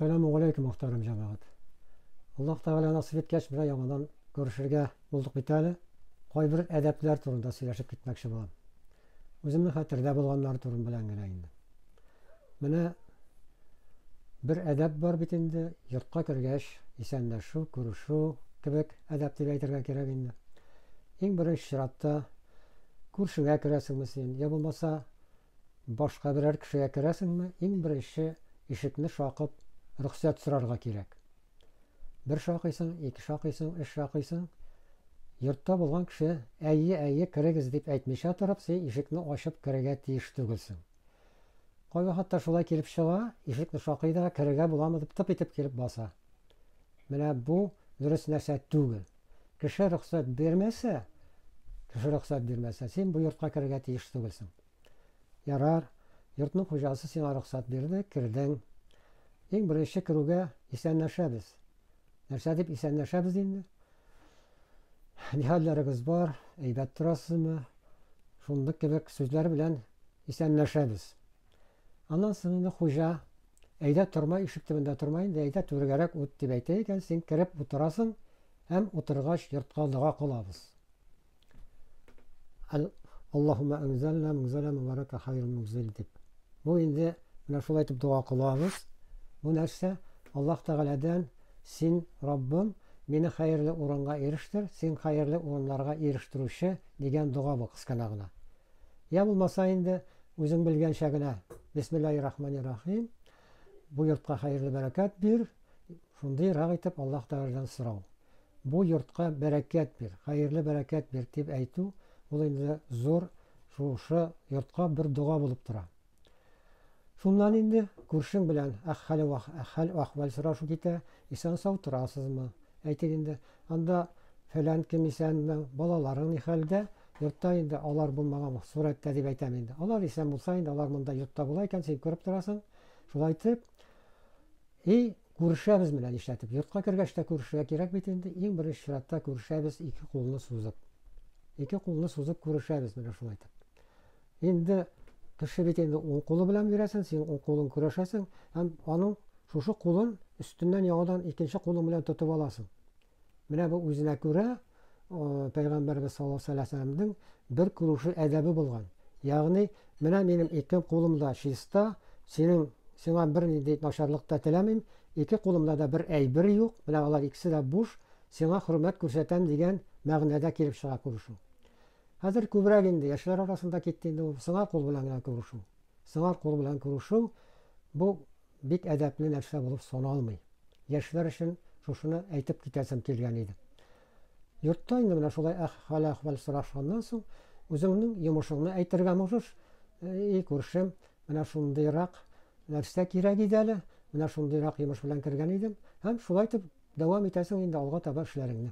Сәләмү галәйкүм мөхтәрәм җәмәгать. Аллаһ Тәгалә насыйп иткәч менә яңадан күрешергә булдык бит әле. Кайбер әдәпләр турында сөйләшеп китмәкче булам. Үземнең хәтердә булганнар турын белән генә инде. Менә бер әдәп бар бит инде, йортка кергәч исәнләшү, күрешү кебек әдәп дип әйтергә кирәк инде. Иң беренче чиратта күршеңә керәсеңме син, я булмаса Башка берәр кешегә керәсеңме, иң беренче ишекне шакып, рөхсәт сорарга кирәк. Бер шакыйсың, ике шакыйсың, өч шакыйсың. Йортта булган кеше, әйе, әйе, керегез, дип әйтмичә торып, син ишекне ачып керергә тиеш түгелсең. Кайбер хатта шулай килеп чыга, ишекне шакый да, керергә буламы дип тып итеп килеп баса. Менә бу дөрес нәрсә түгел. Кеше рөхсәт бирмәсә, кеше рөхсәт бирмәсә, син бу йортка керергә тиеш түгелсең. Ярар, йортның хуҗасы сиңа рөхсәт бирде, кердең. Иң беренче керүгә исәнләшәбез. Нәрсә дип исәнләшәбез инде? Нихәлләрегез бар, әйбәт торасызмы? Шундый кебек сүзләр белән исәнләшәбез. Аннан соң инде хуҗа, әйдә торма, ишек төбендә торма инде, әйдә түргәрәк ут дип әйтә икән, син кереп утырасың һәм утыргач йортка дога кылабыз. Аллаһумма анзална мунзала мубарака хайрул мунзил дип. Бу инде менә шулай итеп дога кылабыз. Бу нәрсә? Аллаһ Тәгаләдән син Раббым мине хәерле урынга ирештер, син хәерле урыннарга ирештерүче дигән дога бу кысканагына. Йә булмаса инде, үзең белгәнчә генә, Бисмиллаһи рахмани рахим, бу йортка хәерле бәрәкәт бир, шундый рак итеп Аллаһ Тәгаләдән сорау. Бу йортка бәрәкәт бир, хәерле бәрәкәт бир, дип әйтү, ул инде зур шушы йортка бер дога булып тора. Шуннан инде күршең белән хәл хәл ахвал сорашу китә, исән сау торасызмы? Әйтик инде, анда фәлән кем исәнме, балаларың ни хәлдә? Йортта инде алар булмаган сурәттә дип әйтәм инде. Алар исән булса инде, алар монда йортта була икән, син күреп торасың. Шулай итеп, и күрешәбез менә нишләтеп. Йортка кергәч тә күрешергә кирәк бит инде. Иң беренче чиратта күрешәбез ике кулны сузып. Ике кулны сузып күрешәбез менә шулай итеп. Инде кеше бит инде ул кулы белән бирәсен, син ул кулын көрәшәсен, һәм аның шушы кулын өстеннән яңадан икенче кулың белән тотып аласың. Менә бу үзенә күрә Пәйгамбәрбез саллаллаһу алейһи ва сәлләмнең бер күрүше әдәбе булган. Ягъни, менә минем ике кулым да чиста, синең сиңа бер нинди начарлык та теләмим, ике кулымда да бер әйбер юк, менә алар икесе дә буш, сиңа хөрмәт күрсәтәм дигән мәгънәдә килеп чыга күрешү. Хәзер күбрәк инде яшьләр арасында китте инде ул сыңар кул белән генә күрешү. Сыңар кул белән күрешү бу бик әдәпле нәрсә булып саналмый. Яшьләр өчен шушыны әйтеп китәсем килгән иде. Йортта инде менә шулай хәл-әхвәл сорашканнан соң, үзеңнең йомышыңны әйтергә можешь, и күршем, менә шундыйрак нәрсә кирәк иде әле, менә шундыйрак йомыш белән кергән идем, һәм шулай итеп дәвам итәсең инде алга таба эшләреңне.